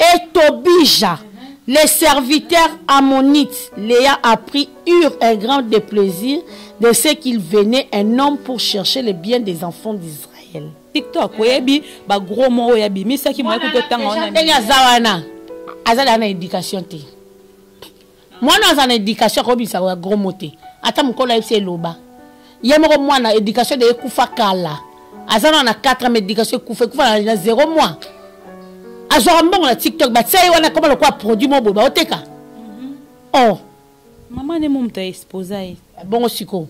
Et Tobija, le serviteur ammonite, l'ayant appris, eurent un grand deplaisir de ce qu'il venait un homme pour chercher le bien des enfants d'Israël. TikTok, oyebi ba gros mots oyo abimisaki moyebi kotanga wana ndenge aza wana aza na éducation te mwana aza na education akobisa ya gros mote ata mokolo ayebisi eloba ye moko mwana education de ekufa kala aza na na 4 ans education ekufa ekufa na, na 0 mois azwaka mbongo na tiktok batia ye wana akoma lokola produit moko boye baoteka mm -hmm. oh mama ne momutu aexposa ye bongo sikoyo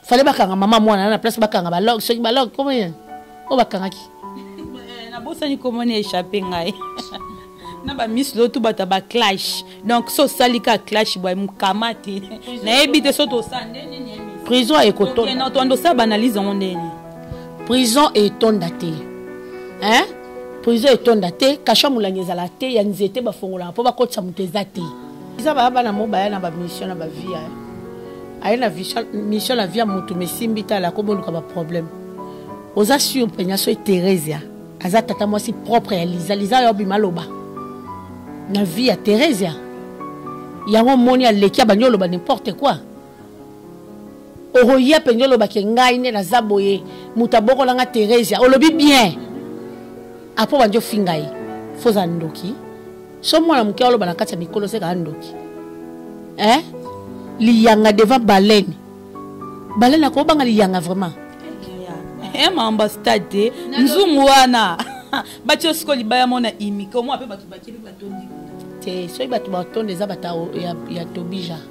fale bakanga mama mwana na place bakanga balog soki balog komo ye oyo bakangaki eh, nabosani komona echappe ngai na bamisi lotu bata baclash donc so osali ka clash bwa mokama te nayebi te so tosala nde nini prison ekotonda tondo osala baanalyse yango nde nini prison etonda te hein prison etonda te kasha molangi ezala te ya nzete bafongolaka mpo bakotisa moto eza te eza baya bana mo baya na bamission na bavie ya aye na mission na vie ya motu mesimbi tala akoboluka baproblème oza sur mpenya soki theresia aza tata mwasi propre ya liza liza yo obima loba na vie ya theresia yango omoni aleki abandi oloba n'importe quoi okoya mpenza olobake ngai nde naza boye moto abokola nga theresia olobi bien apo bandi ofinga ye fo oza ndoki so mwana moke aloba na kati ya mikolo seka andoki eh? liyanga devant balene balene akobanga liyanga vraiment eh, maambastade te nzungu wana bati osiko libaya mona imike omwa mpe bato bakeli batondi te soki bato batonda eza bato ya tobija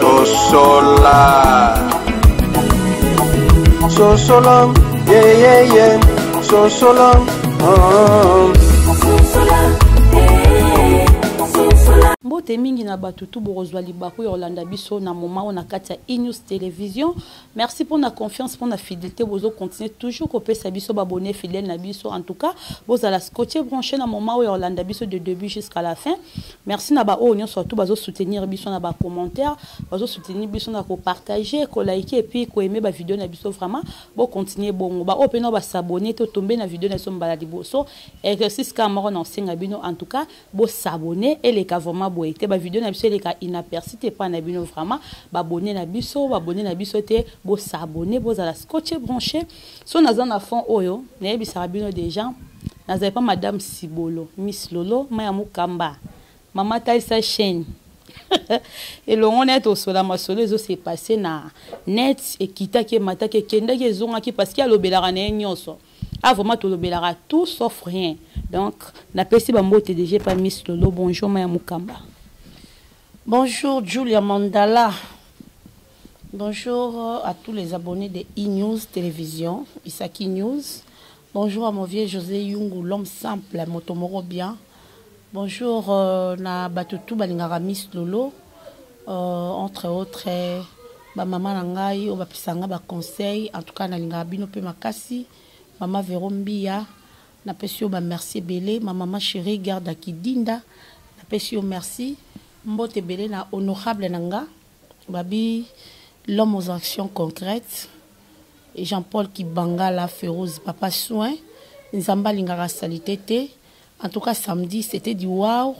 sosola sosola yeyeye sosola mbote mingi na bato tu bokozwa libaku ya kolanda biso na moma oyo na kati ya enews television Merci pour na confiance pour na fidélité bozo continuer toujours ko pesa biso ba abonné fidèle na biso en tout cas bozala scotché branché na moment oyo olanda biso de début jusqu'à la fin merci na ba oyo nyo surtout bazo soutenir biso na ba commentaires bazo soutenir biso na ko partager ko liker et puis ko aimer ba vidéo na biso vraiment bo continuer bongo ba oyo pe na ba s'abonner to tomber na vidéo na biso mbala liboso exercice ka moko na osenga bino en tout cas bo s'abonner eleka vraiment boye te ba video na biso eleka inaperçu te pa na bino vraiment ba abonner na biso ba abonner na biso te bo s'abonner bozala scotché branché so naza na fond oyo nayebisaka bino déjà nazali pa madame sibolo miss lolo maya mukamba mama talisa chaîne elongo na ye tosola masolo ezose passe na net ekitaki emataki ekendaki ezongaki parceke alobelaka na ye nyonso Ah vraiment tolobelaka tout sauf rien. Donc napesi ba mbote déjà epai Miss Lolo bonjour ma ya Mukamba. Bonjour Julia Mandala. Bonjour euh, à tous les abonnés de e-news télévision, Isaki News. Bonjour à mon vieux José Yungu, l'homme simple, Motomoro bien. Bonjour euh, na bato tout balingaka Miss Lolo euh, entre autres ba mama na ngai oyo bapesa ngai ba conseil en tout cas nalingaka bino mpe makasi mama Vero Mbiya napesi yo ba merci ebele ma mama chérie garde ya Kidinda napesi yo merci mbote ebele na honorable na nga babi l'homme aux actions concrètes Jean-Paul Kibangala Feroz papa soin nzambe alingaka salite te En tout cas samedi c'était du wow.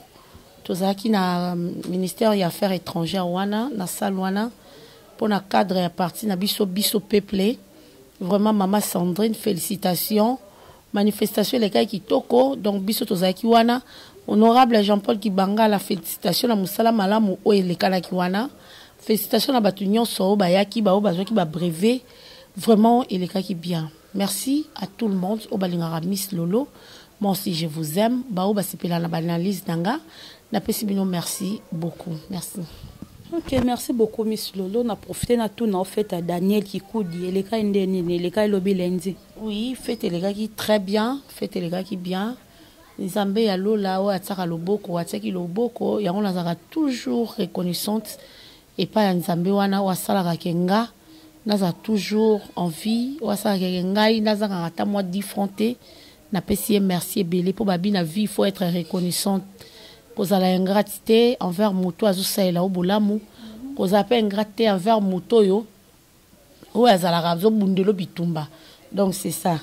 Tozalaki na euh, ministère ya affaires étrangères wana na salle wana mpo na cadre ya parti na biso biso peuple. Vraiment mama Sandrine félicitations. Manifestation elekaki kitoko donc biso tozalaki wana honorable Jean-Paul Kibangala félicitations na mosala malamu oyo elekanaki wana. Félicitations na bato nyonso oyo bayaki baoyo bazwaki ba brevet vraiment elekaki bien. Merci à tout le monde oyo balingaka Miss Lolo. Moi aussi je vous aime. Baoyo basepela na baanalyse na nga napesi bino merci beaucoup. Merci. Ok, merci beaucoup Miss Lolo. Na profite na tout na fête à Daniel Kikudi. Eleka ende nini? Eleka elobi lundi. Oui, fête elekaki très bien. Fête elekaki bien. Nzambe ya Lola oyo atiaka loboko, atiaki loboko, yango nazalaka toujours reconnaissante. epai ya Nzambe wana oyo asalaka ke nga nazala toujours en vie, oyo asalaka ke ngai nazangaka ata mwa 10 francs te, napesi ye merci ebele mpo babi na vie il faut etre reconnaissante, kozala ingrate te envers moto oyo azosalela yo bolamu, kozala mpe ingrate te envers moto oyo oyo azalaka azobundelo bitumba donc c'est ça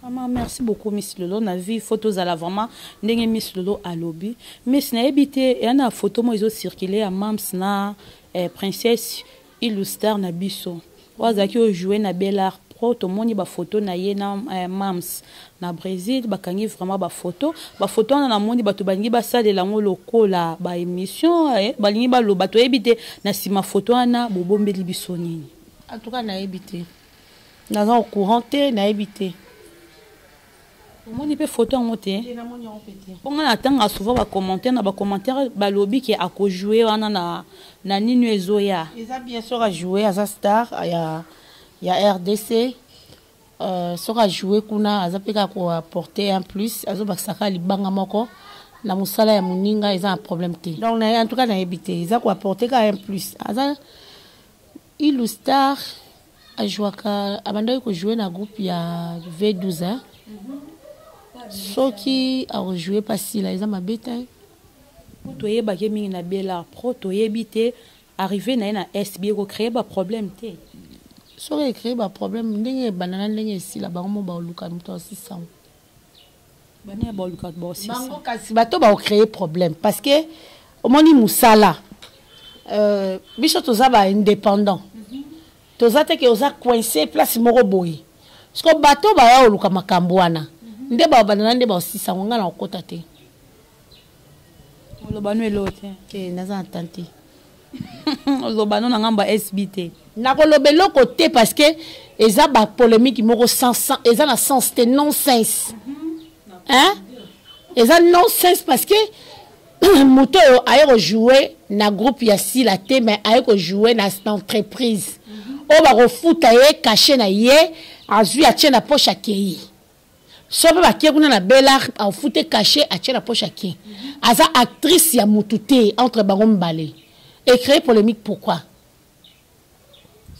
vraiment merci beaucoup miss lolo na vie faut tozala vraiment ndenge miss lolo alobi miss nayebi te eya na photo moko ezocircule ya mams na eh, princesse iluster na biso oyo azalaki ojoue na belart pro tomoni bafoto na ye na eh, mams na Bresil bakangi vraiment ba photo ba photo wana namoni bato balingi basalela yango lokola ba émission eh, balingi baloba toyebi te na nsima photo wana bobombeli biso nini en tout cas nayebi te naza au courant te nayebi te omoni mpe photo yango te mpo ngai natanga souvent bacommentaire na bacommentaire balobi ke akojoue wana na, na nini ezoya eza bien sur ajoue aza star ya, ya rdc Euh, soki ajoue kuna aza mpe kaka koapporte un plus azobakisa kaka libanga moko na mosala ya moninga eza na problème te donc na ye en tout cas nayebi te eza koapporte kaka un plus aza ilu star ajouaka abandaki kojoue na groupe ya v12 hein? soki akojoue mpa sila eza mabe te toyebaki mingi na bela pro toyebi te Arrive na ye na Est bie ko cree ba problème te? Soki e cree ba problème ndenge e banda na ndenge e sila bango mo ba luka moto a sisa ngo. Bana ya ba luka ba sisa. Bango kasi bato ba ko cree problème parce que omoni musala euh, biso toza ba indépendant mhm. toza te ke oza coincé place moko boye siko bato baya koluka makambo wana mhm. nde babandana nde baosisa yango ngai na kokota te oloba no elo te te naza na tante oloba no na ngambo ya sb te nakoloba eloko te parce que eza bapolémique moko eza na sens te nonsense hein eza nonsense parce que moto oyo aye kojoue na groupe ya sila te mais aye kojoue na entreprise oyo bakofuta ye kashe na ye azwi atie na poche akei sope bakie kuna na belart afute cache atie na poche akie aza actrice ya mutu te entre bango mibale ecree polémique pourquoi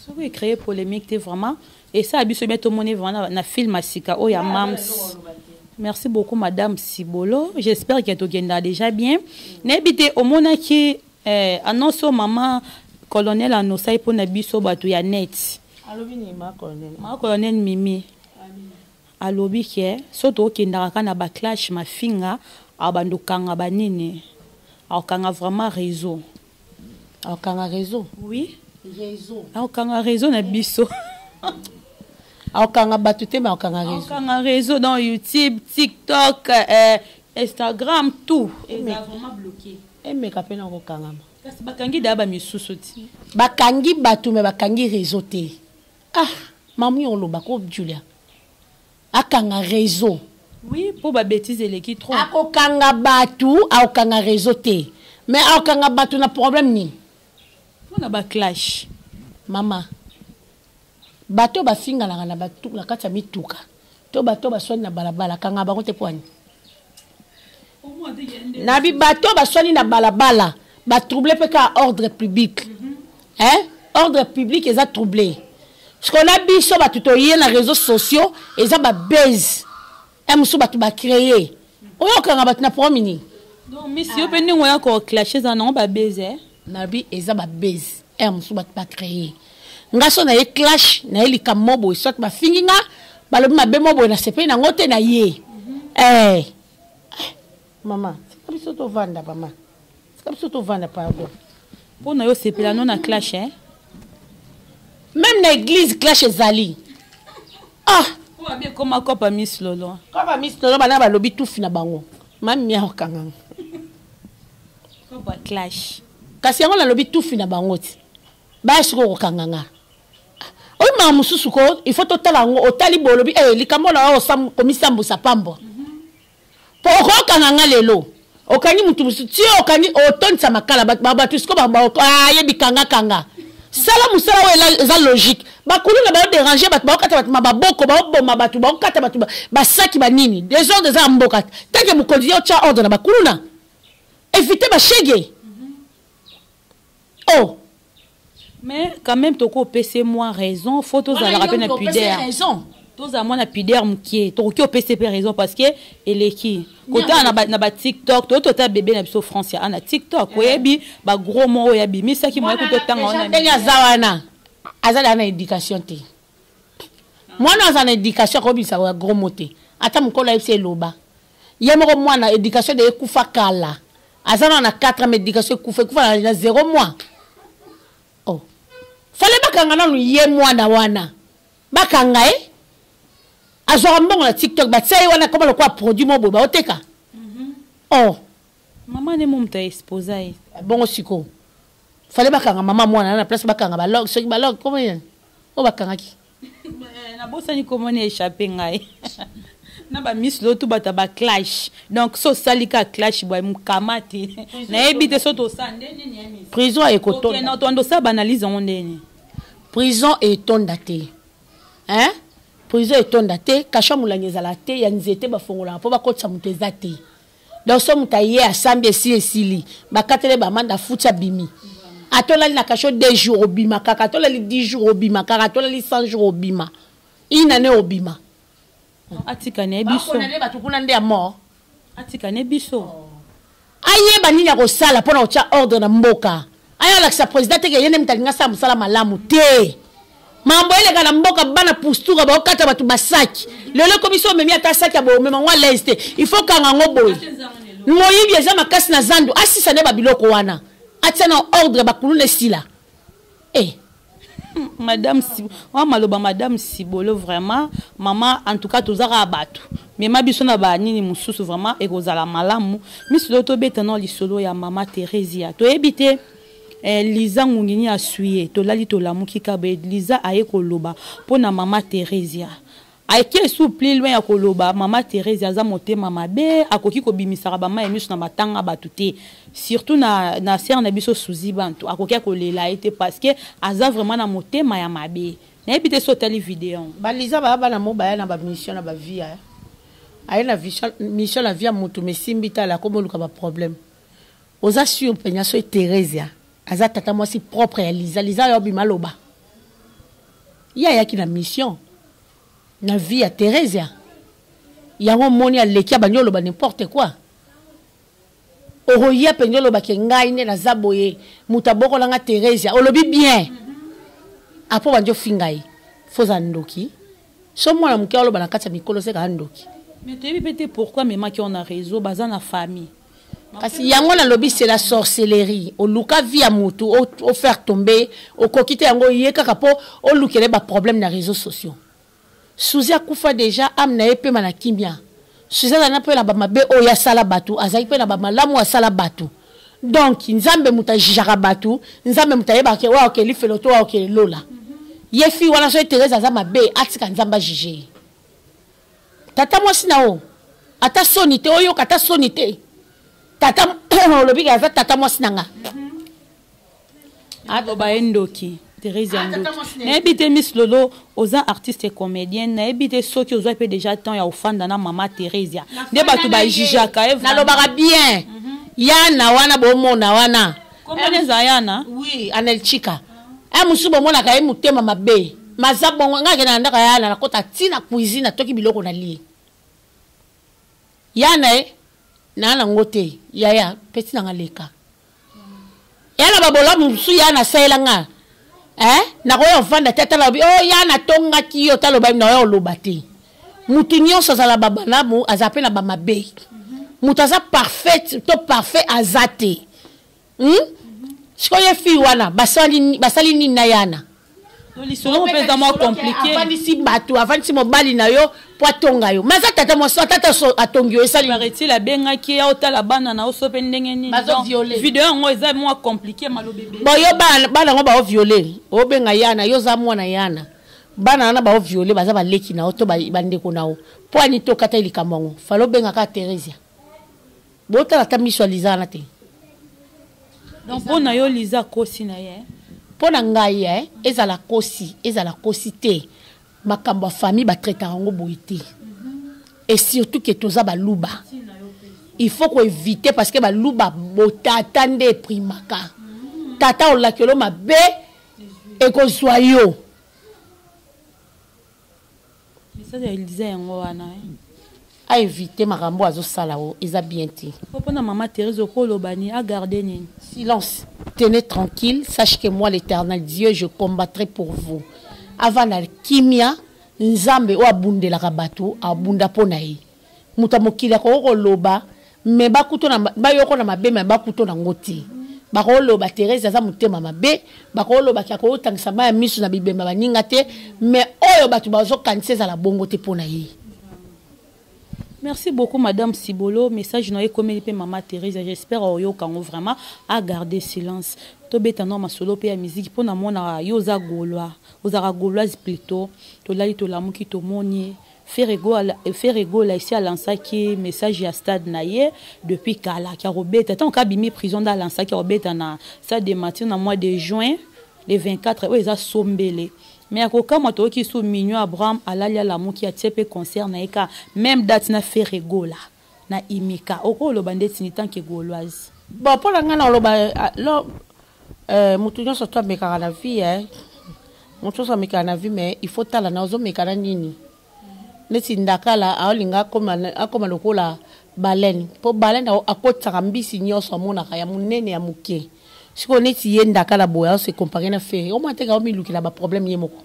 soki ecree polémique te vraiment esala biso bien tomoni vraiment na film ya sika oyo ya mams merci beaucoup madame sibolo j'espère ke tokenda déjà bien nayebi te omonaki Eh, annonce oyo mama colonel anosa ye mpo na biso bato ya neti alobi nini ma colonel ma colonel mimi alobi ke so tokendaka kaka na baclash mafinga abanda okanga banini akokanga vraiment réseau akokanga réseau oui réseau akokanga réseau na biso akokanga bato te me akokanga réseau akokanga réseau dans youtube tiktok eh, instagram tout eza vraiment bloqué emeka mpe na kokangama kasi bakangi daya bamisusu ti bakangi bato me bakangi réseau te ah mamu yo oloba ko julia akanga réseau oui mpo babétise eleki trop akokanga bato akokanga réseau te mais akokanga bato na problème nini mpo na baclash mama bato bafinganaka na bato na kati ya mituka to bato baswani na balabala kanga bango te pwani na bato baswani na balabala batrouble mpe kaka ordre public mhm. eh? ordre public eza trouble sikoyo na biso bato toye na réseau sociaux eza babase Eh musu batu ba créer. Oyo kanga batu na promi ni. Donc miss yo pe ndingo ya ko clashes na ngo ba baiser. Eh? Na bi eza ba baiser. Eh musu batu ba créer. Nga so na ye clash na ye likambo boye soit ba fingi nga balobi mabe mo boye na sepeli na ngo te na ye. Mhm. Eh. Mama, tika biso tovanda mama. Tika biso tovanda pardon. Mpo na yo sepela no na clash hein. Même na église clash ezali. Ah, po abi ekoma kopa Miss Lolo. Kopa Miss Lolo bana balobi tufi na bango. Mami mia okanga. Kopa clash. Kasi yango nalobi tufi na bango ti. Ba siko kokanga nga. Oyo ma mususu ko il faut totala yango otali bolobi eh likambo na yo okomisa mbusa pambo. Mm. Po okokanga nga lelo. Okangi mutu mususu. Ti okangi otondisa makala ba batu siko ba ayebi kanga kanga. Sala musala oyo eza logique. Ba kuluna ba deranger batu ba kata batu maboko ba boma batu ba kata batu ba saki ba nini. Desordre eza mboka. Tanke mukonzi yo tia ordre na ba kuluna. Eviter ba chegue. oh mais quand même toko pese moi raison faut tozalaka pe na pudeur raison tozala mwana pudeur mokie tokoki opesa pe raison parce que eleki kotala na batiktok toyei totala bebe na biso france ya ana tiktok eh. oyebi bagros mo oyo abimisaki moyaki totanga wana ndenge aza wana aza daa na éducation te mwana aza na éducation akobimisa bagros mo te ata mokolo ayebisi eloba Ye moko mwana education de ekufa kala. Aza na 4 ans mais education ekufa ekufa na, na 0 mois. Oh. Fallait bakanga nanu ye mwana wana. Bakanga ye. Eh? azwaka mbongo na tiktok batia ye wana koma lokola produit moko boye baoteka mhm. or oh. mama nde mo moto aexposa ye bongo sikoyo fale bakanga mama mwana na place bakanga balog soki balog koma oyo bakangaki Eh, nabosani komona echappe ngai na bamisi lotu bato ya baclash donc so osali ka clash boye mokama te nayebi te so tosala nde nini ya misi prison ekotona otonda osala baanalyse yango nde nini prison etonda te hein prison etonda te kasha molangi ezala te ya nzete bafongolaka mpo bakotisa moto eza te donc so moto aye asambi esi esili bakatele bamanda afuti abimi atolali na kasho deux jours obima kaka atolali 10 jours obima kaka atolali 100 jours obima une année obima atika ne biso bato kuna nde ya mort atika ne biso ayeba nini akosala mpo na kotya ordre na mboka aya olakisa president teke ye nde moto alingi asala mosala malamu te mambo eleka na mboka bana pustura baokata bato basaki lelo ekomi so omemi ata saki ya boye omema yango alaise te il faut kanga yango boye moyibi eza makasi na zandu asisa nde babiloko wana atia na ordre bakuluna esila e eh. madame wa maloba madame sibolo vraiment mama en tout cas tozaka bato mema biso na banini mosusu vraiment ekozala malamu misilo tobeta na lisolo ya mama theresia toyebi te eh, liza ngungini aswi ye tolali tolamuki kabe liza aye koloba mpo na mama theresia Ake esu plus loin ya koloba mama Therese aza motema mabe akoki kobimisaka bama ya misu na matanga batu te surtout na, na sere na biso Suzy Bantu akoki akolela ye te parce que aza vraiment na motema ya mabe nayebi te so otali video yango baliza baya bana mo baya na bamission na bavie eh. aye na mission na vie ya motu mesimbi tala akomoluka baproblème oza sur mpenza soki Theresia aza tata mwasi propre ya liza liza yo bima loba ye ayaki na mission na vie ya theresia yango omoni aleki abandi oloba n'importe quoi okoya mpenza oloba ke ngai nde naza boye moto abokola nga theresia olobi bien apo bandi ofinga ye foza ndoki so mwana moke oloba na kati ya mikolo seka andoki mais toyebi mpe te pourquoi amemaki wana reseau baza na famille kasi yango nalobi c'est la sorcellerie oluka vie ya mutu ofaire tombe okoki te yango ye kaka mpo olukele baproblème na réseau sociaux suzi akufa déjà ame na ye mpema na kimia suzi azali na mpe na bamabe oyo asala bato azali mpe na bamalamu asala bato donc nzambe moto ajijaka bato nzambe moto ayebaka oyo akeli felo to oyo akeli lola ye fi wana soki therese aza mabe atika nzambe ajije ye tata mwasi na yo ata soni te oyoka ata soni te tata olobi aza tata mwasi na nga aloba ye ndoki therese ya ndoki nayebi te miss lolo oza artiste comédienne nayebi te soki ozwa mpe déjà temps ya ofanda na mama theresia nde bato bajijaka nalobaka bien mhm. yana wana bomona wana Kombo ne Zayana. Oui, Anelchika. Eh musu bomonaka ye mutema mabe. Maza bongo ngake na ndaka yana nakota ti na cuisine atoki biloko na lie. Yana e na na ngote yaya peti na ngaleka. Yana babola musu yana sayela nga. Eh nakoya vanda tata lobi oh yana tonga ki yo taloba na yo loba te. mutu nyonso azala babalamu aza mpe na bamabe moto aza parfaite to parfait aza te hmm? sikoyo ye fille wana basali, basali nini na yana lisolo mpenza mwa komplike avandisi bato avandisi mobali na yo mpo atonga yo ma aza tata mwasi atata atongi yo esali paraît-il abengaki ye otala bana na yo so mpe ndenge nini video yango eza mwa komplike malobebe boyo bana yango baoviole obenga yana yo oza mwana yana bana wana bao viole baza baleki na yo to bandeko na yo mpo ani to okataki likambo yango fale obenga kaka theresia botala ata miso ya liza wana te donc mpo na yo liza akosi na ye mpo na ngai e ezala kosi ezala kosi te makambo ya famille batraitaka yango boye te et surtout ke toza baluba il faut koevite parce que baluba botata nde eprimaka tata olakelo mabe ekozwa yo message ya eliza yango wana eh. aevite makambo azosala o eza bien te mpona mama therese okoloba ni agarde nini silence tenez tranquille sache que moi l'éternel dieu je combattrai pour vous avanda kimia nzambe oyo abundelaka bato abunda mpo na ye moto ya mokili akoki koloba me bakuto na bayoko na mabe me bakuto na ngo te bakoloba therese aza motema mabe bakoloba ke akotangisa mai ya miso na bibemba baninga te me oyo bato bazokanisa ezala bongo te mpo na ye merci beaucoup madame sibolo message na yo ekomeli mpe mama therese j'espère oyoka yango vraiment agarde silence tobeta nao masolo mpe ya miziki mpo na mwana yo oza golois ozalaka goloise plutot tolali tolamuki tomoni ye Ferre Gola, Ferre Gola esi alansaki message ya stade na ye depuis kala kia kobeta ntango kaka abimi prison nde alansaki akobeta na stade de matin na mois de juin le 24 oyo eza sombele mais ya kokamwa toyoki lisusu mignon abraham alali alamuki atie mpe concert na ye ka même date na Ferre Gola na imika okoloba ndeti ni tanke goloise bon mpo na ngai naoloba eh, motu nyonso to amekaka na vie eh. motu nyonso amekaka na vie mais il faut tala na ozomeka na nini neti ndakala aolinga akoma, akoma lokola balene mpo balene akotisaka mbisi nyonso amonaka ya monene ya moke sikoyo neti ye ndakala boye aose compare na fere omwa teka omilukela baproblème ye moko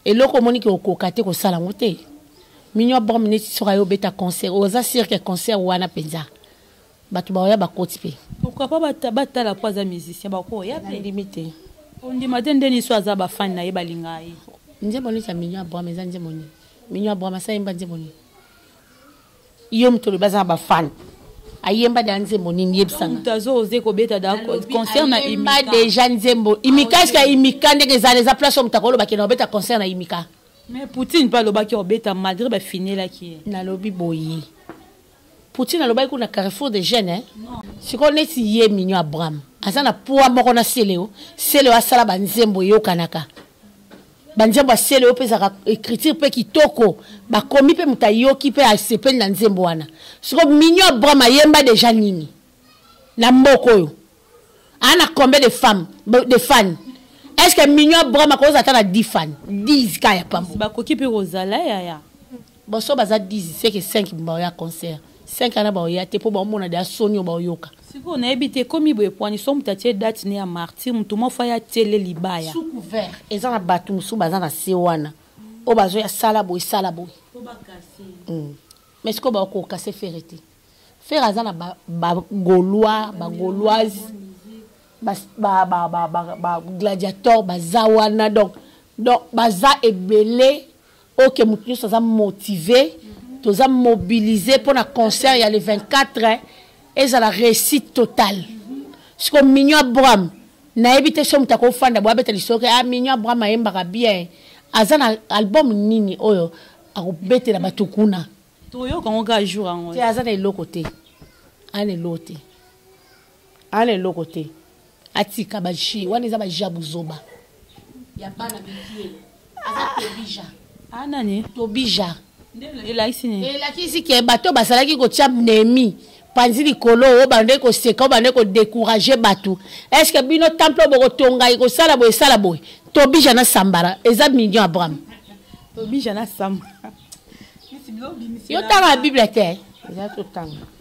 eloko omoni ke okoka te kosala yango te minio abom neti soki ayo obeta concert oza sur ke concert wana mpenza bato baoya bakoti mpe pourquoi pas batala mpo aza musicien bakoya mpe ndimi te ondima te nde niso aza bafani na ye balingaa ye nzembo neti ya minio abom eza nzembo nini minio abom asayemba nzembo nini yo moto olobi aza na bafane ayemba da nzembo nini yebisanaayemba deja nzembo imika eske ya imika ndenge ezala eza place oyo moto akoloba kena obeta concert na imika mais poutine mpe alobaki obeta malgré bafinelaki ye nalobi boye poutine alobaki kuna carrefour de jeune eh? sikoyo neti ye mignon abraham aza na poids moko na seleo seleo asala banzembo eyokanaka banzembo ya sele oyo mpe ezalaka écriture mpe kitoko bakomi mpe moto ayoki mpe asepeli na nzembo wana siko mignon abraham ayemba deja nini na mboka oyo aa na combien de femme de fan est ce que mignon abraham akozala ata na 10 fan 10 ka ya pambo bakoki mpe kozala yaya Boso baza 10 seke 5 mbao ya concert. 5 ana bao ya te po bao mona da sonio bao yoka. Siko na yebi te komi boye pwani so mutatie date ne ya martyr mutu mo fa ya tele libaya. Sous couvert eza na batu musu baza na se wana. O bazo ya sala boye sala boye. Po ba kase. Hmm. Mais siko bao ko kase fere te. Fere aza na ba, ba golois, ba goloise. Ba, ba, ba, ba, ba, ba gladiator baza wana donc donc baza ebele Ok mutu nyoso aza motive toza mobilise mpo na concert ya le 24 ezala réussite totale siko mignon abraham nayebi te so moto akofanda boye abeta lisolo ke ah mignon abraham ayembaka bien aza na album nini oyo akobetela bato kuna toyoka yango kaka jour yango te aza na eloko te aza na eloko te ana eloko te atika ba jeu wana eza ba jeu ya buzoba ya bana mikie aza tobija ah nani tobija elakisi nini elakisi ke bato basalaki kotya nemi panzi likolo oyo bande koseka oyo bande kodecourage bato est ce que bino temple oyo bokotonga ekosala boye esala boye tobija na sambara eza million abraham tobija na sambara yo tanga bible te eza totanga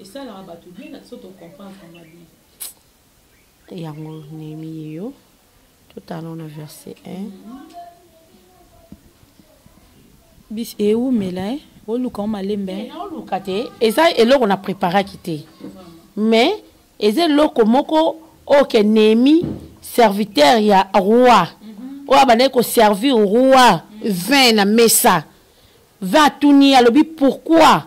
esalaka bato bien na biso tocomprendre mabi yango nemi ye yo totala na verset 1 mm -hmm. bis ewumela eh, eh. oluka o malembe eh. oluka te eza eloko na préparaki te mais eza eloko moko oyo ke nemi serviteur ya roi mhm. oyo abandaki koservir roi vin na mesa vin atuni alobi pourquoi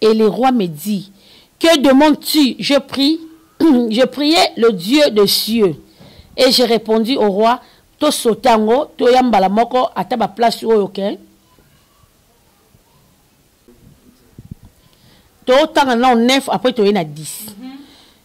Et le roi me dit, que demandes-tu? Je prie, je priais le Dieu des cieux. Et j'ai répondu au roi, to sotango, to yambala moko, ata ba place oyo ke. To tanga na 9, après to yena 10.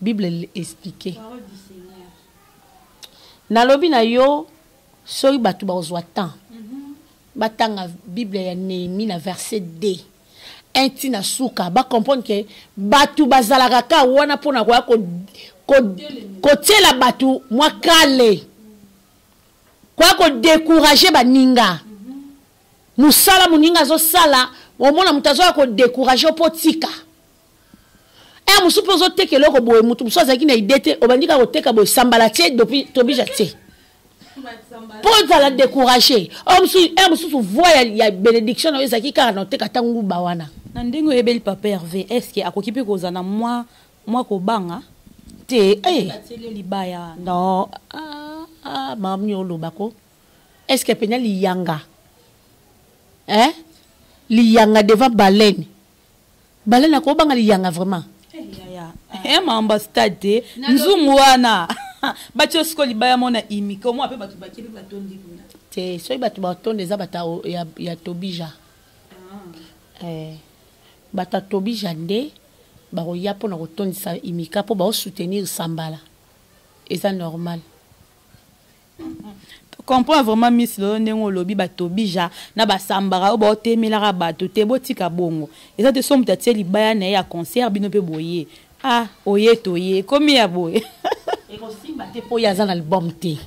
bible explique nalobi na yo soki bato bakozwa temps mhm. batanga bible ya nehemi na verset 2 inti na suka bacomprendre ke bato bazalaka ka wana mpo na koya kotyela bato mwa kale koya kodekourage baninga mosala moninga azosala omona moto azoya kodekourage mpo tika ere mosusu mpe ozoteka eloko boye moto mosusu azalaki na ide te obandi kaka koteka boye sambala te tobija te mpo ozala décourage ere oh, mosusu voi ya bénédiction na yo ezalaki kaka na oteka ntango nguba wana na ndenge oyebeli papa herve est ce que akoki mpe kozala na mwa mwa kobanga te eh. libaya non ah, ah, mami oloba ko est ce que mpenza liyanga eh? liyanga devant baleine balala kobanga liyanga vraiment eh, mamba stade te nzungu wana batya osiko libaya mona imike omwa mpe bato bakeli batondi kuna te soki bato batondi eza bato ya, ya tobija ah. eh, bato ya tobija nde bakoya mpo na kotondisa imika mpo baosoutenir sambala eza normal comprends vraiment miss lolo ndenge olobi batobija na basambaka oyo baotemelaka bato te botika bongo eza te so moto atie libaya na ye ya concert bino mpe boye ah oye toye ekomi ya boye ekosimba te mpo ye aza na album te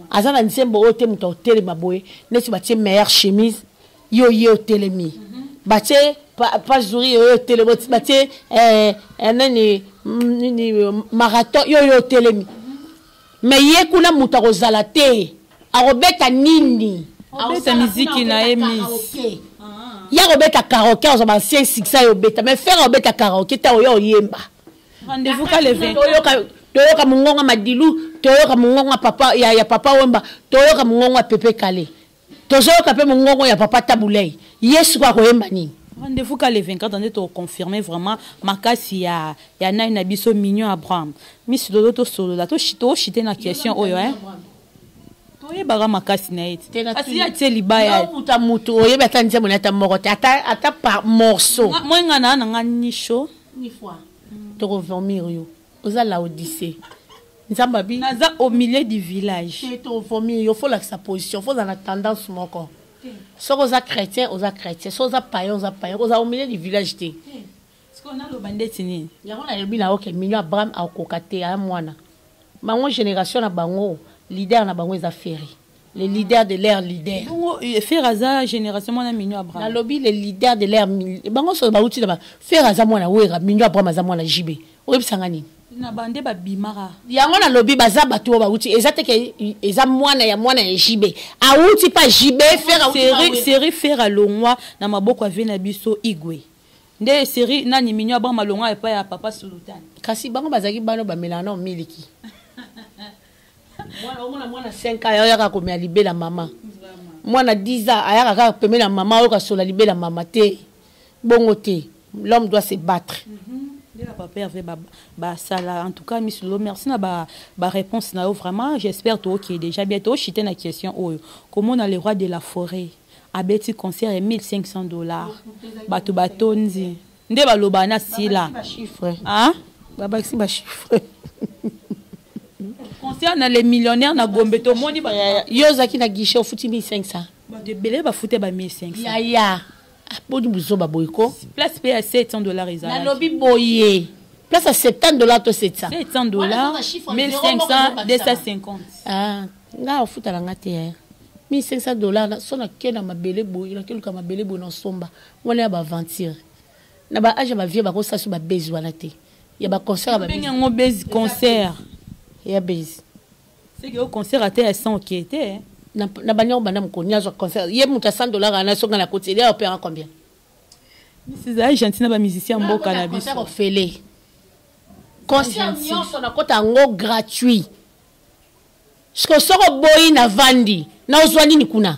aza na nzembo oyo te moto aotelema boye neti batie meilleure chemise yo ye otelemi mhm. batie pazuri yo yo otelemi batie eh, eh, nani mm, nini marathon yo yo otelemi Mais ye kuna mutu akozala te. Akobeta nini? Akobeta miziki na ye miss. Ya kobeta karaoke azo ba ancien succès yo beta mais faire obeta karaoke ta oyo oyemba. Rendez-vous ka le 20. Toyoka mungonga madilu, toyoka mungonga papa ya, ya papa Wemba, toyoka mungonga Pepe Kale. tozoyoka mpe mongongo ya papa tabulei ye siko akoyemba nini rendez-vous ka le 24 ans nde tokoconfirme vraiment makasi ya, ya nani na biso mignon abraham miss lolo tosolola toshite na question oyo eh? toyebaka makasi na ye te kasi ye atie libaya okuta motu oyebi ata nzembo na ata moko te ata par morceau mwenga na na nga nisho toko vomir yo oza laodise nzambe abi naza au milieu du village te tovomi yo fo olakisa position fo ozala na tendance moko soki oza chrétien oza chrétien soki oza payen oza payen oza au milieu du village te sikoyo naloba ndeti nini yango nalobi na oke mino abraham akoka te aya mwana bango génération na bango leader na bango eza ferre les leaders de leur leader bongo eh, fer aza génération mwana mino abraham nalobi les leaders de leur bango soso bauti na ba fer aza mwana wera mino abraham aza mwana jb oyebisa nga nini na bande babimaka yango nalobi baza bato oyo bauti eza teke eza mwana ya mwana ya jb auti pa jb ferserie fer alongwa na maboko ya vie na biso igwe nde serie nani mino abraham alongwa epai ya papa sultan kasi bango bazalaki bana bamelana miliki mwana omona mwana 5 ans ayaka komela libela mama mwana 10 ans ayaka kaka pembeni ya mama oyoka sola libela mama te bongo te l'homme doit se battre mm -hmm. ndela papa herve basala en tout cas miss lolo merci na baréponse na yo vraiment j'espère tookee déjà bien tooshite na question oyo komona le roi de la forêt abeti concert ya 1500 dollars bato batondi nde baloba na sila ah? babakisi bachiffre concert na les millionnaires na gombe tomoni yo ozalaki na guichet ofuti 1500 bato ebele bafute ba 1500 yaya boni buzoba boye ko place mpe ya 700 dollars ezalaki nalobi boye place ya 70 dollars to 700 700 dollars 1500 250 ah nga ofutala nga te yaya 1500 dollars so nake na mabele boye nakeluka mabele boye na somba Wana ya ba aventure. Na ba age ya ba vieux bako sasu ba buzz wana te. Ya ba concert ba buzz. Bengi yango buzz concert. Ya buzz. C'est que au concert à terre sans qui était. Na na banyo bana mukoni azo concert. Ye muta 100 dollars na songa na koti. Il a opéra combien? Mrs. Aïe gentil na ba musicien mboka na biso. Concert ofele. Concert nyoso na kota ngo gratuit. Siko soko boyi na vandi. Na ozwa nini kuna?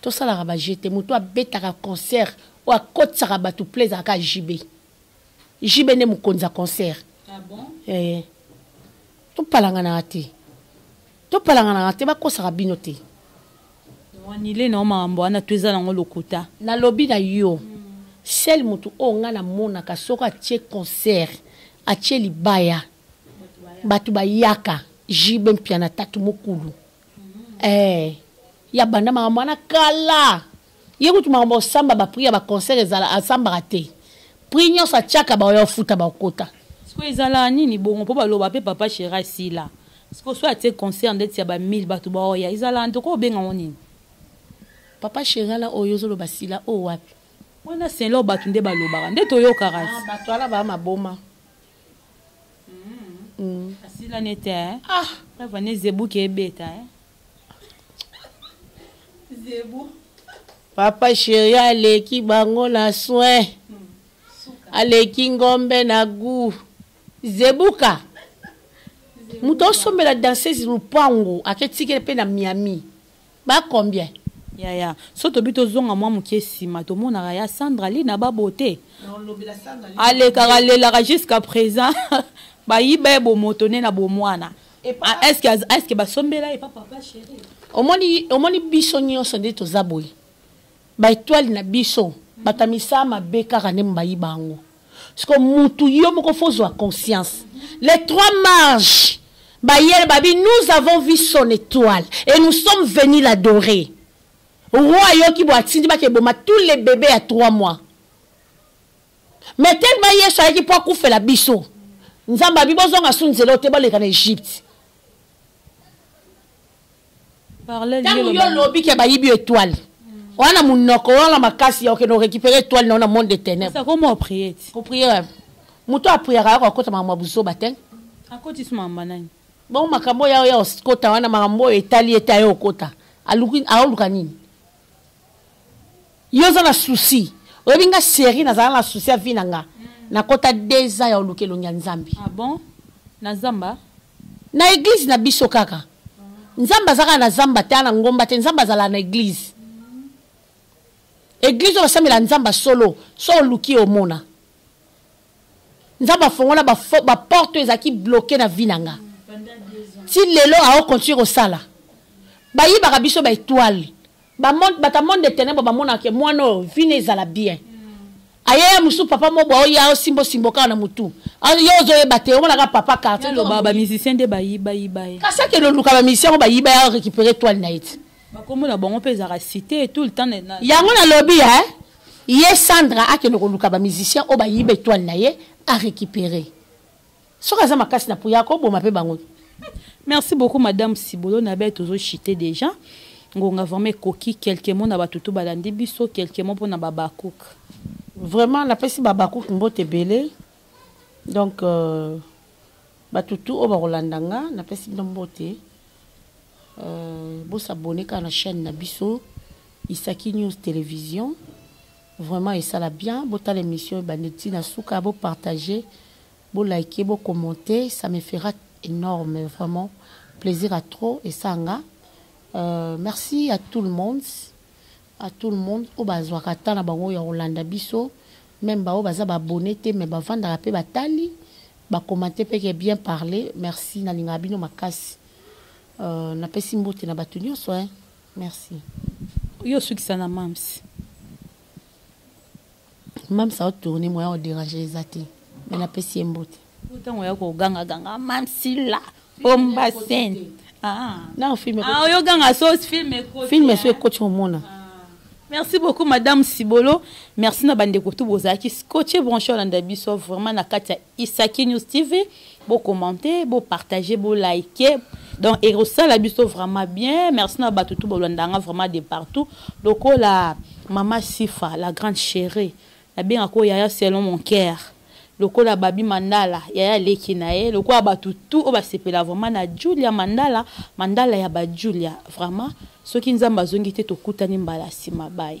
tosalaka ba jeu te moto abetaka concert oyo akotisaka bato pla ezalaka jb jb nde mokonzi ya concert ah bon? eh, eh. topalanganaka te topalanganaka te bakosaka bino te wanile na yo makambo wana to eza nango lokuta nalobi na yo sel motu oyo ngai namonaka soki atie concert atie libaya bato bayaka jb mpiana tatu mokulu eh, ya banda makambo wana kala ye kutu makambo osamba bapri ya baconcert ezala asambaka te pri nyonso atyaka baoyo afuta bakota siko ezala nini bongo mpo baloba mpe papa shera sila siko so atie concert ndeti ya ba 1000 bato baoya ezala ntoko obenga ngo nini papa sherala oyo ozoloba sila oyo wapi wana selo bato nde balobaka nde toyokaka ah, bato wana baa maboma Mm. asila nete eh? ah. ava ne zebu ke ebeta eh? zebu papa sheri aleki bango na soin mm. aleki ngombe na gu zebuka moto osombela danseuse lupango aketikele mpe na miami Ba combien? Yaya, so tobi tozonga mwa mokie sima, tomonaka ya Sandra Lee na ba beaute. Alekaka alelaka jusqu'à present. Bayiba ye bomoto ne na bomwana. Ah, est-ce que est-ce que basombela ye papa papa chéri? Omoni omoni biso nyonso nde toza boye. Ba étoile na biso, bakamisa mabe kaka nde mbayiba yango. siko mutu yo moko fo zwa conscience les trois marges bayele babi nous avons vu son étoile et nous sommes venus l'adorer roi ayoki bo atindi bakeboma tous les bébés ya trois mois mais tellement yesu ayaki mpo akufela biso nzambe abi bozonga su nzela oyo te baleka na egypte ntango yo olobi ke bayibi yo etoile oza na monoko oza na makasi ya okende orécupere etoile nao na monde de ténèbrekopriere moto apriaka yako akota makambo ya buzoba te akotisi makambo nani bongo makambo oyo ya okota wana makambo oyo etali ete aye okota aoluka nini Yo oza na souci. Oyebi nga chérie nazala na souci ya vie na nga. Nakota deux ans ya oluka elongi ya Nzambe. Ah bon? Na zamba? Na église na biso kaka. Nzambe aza kaka na zamba te, na ngomba te. Nzambe azala na église. Église oyo basambela Nzambe solo, so oluki omona. nzambe afongola baporte oyo ezalaki bloke na vi na nga ti lelo aokontinue kosala bayibaka biso baetoile bato ya monde de ténèbre bamonaka ke mwana oyo vina ezala bien ayaya mosusu papa moko aoya aosimba osimbo kaka na motu yo ozoyeba te omonaka papa kartieloba bamusicien nde bayibayiba ye kasi akende oluka bamusicien yango bayiba ya récupere toile na ye ti bakombo na bango mpe ezalaka cité tout le temps yango nalobi e ye sandra akende koluka bamusicien oyo bayiba etoile na ye arécupere soki aza makasi na puya akoboma mpe bango merci beaucoup madame sibolo na bete ozochite déjà ngonga vraiment ekoki quelque mot na bato to balandi biso quelque mot mpo na babakouk vraiment napesi babakouk mbote ebele donc euh, bato tu oyo bakolanda nga napesi bino mbote euh, bosabone kaka na chaîne na biso isaki news télévision vraiment esala bien botala émission ebandi ti na suka bopartage bolike bocommente ça me fera énorme vraiment plaisir à trop esanga euh, merci à tout le monde A tout le monde oyo bazwaka temps na bango oyo ya kolanda biso meme ba oyo baza ba abonne te mais bavandaka pe batali ba commente pe ke bien parle merci nalingaka bino makasi euh, napesi mbote na bato nyonso hein merci yo osukisa na mams Mams a tourner moyen o déranger les athées. Mais na pesi ye mbote. Ntango ya ko ganga ganga mams la omba scène. Ah. Non film. Ah yo ganga so film ekoti. Film so ekoti hein. omona. Ah. Merci beaucoup madame Sibolo. Merci na bande kotu bozaki scotché branché olanda biso vraiment na katia Isaki News TV. Bo commenter, bo partager, bo liker. Donc ekosala biso vraiment bien. Merci na batu tout bolandanga vraiment de partout. Lokola Mama Sifa, la grande chérie. Na benga ko yaya selon mon cœur. lokola babi mandala yaya leki na ye lokola bato tout oyo basepela vraiment na julia mandala mandala ya bajulia vraiment soki nzambe azongi te tokutani mbala nsima bai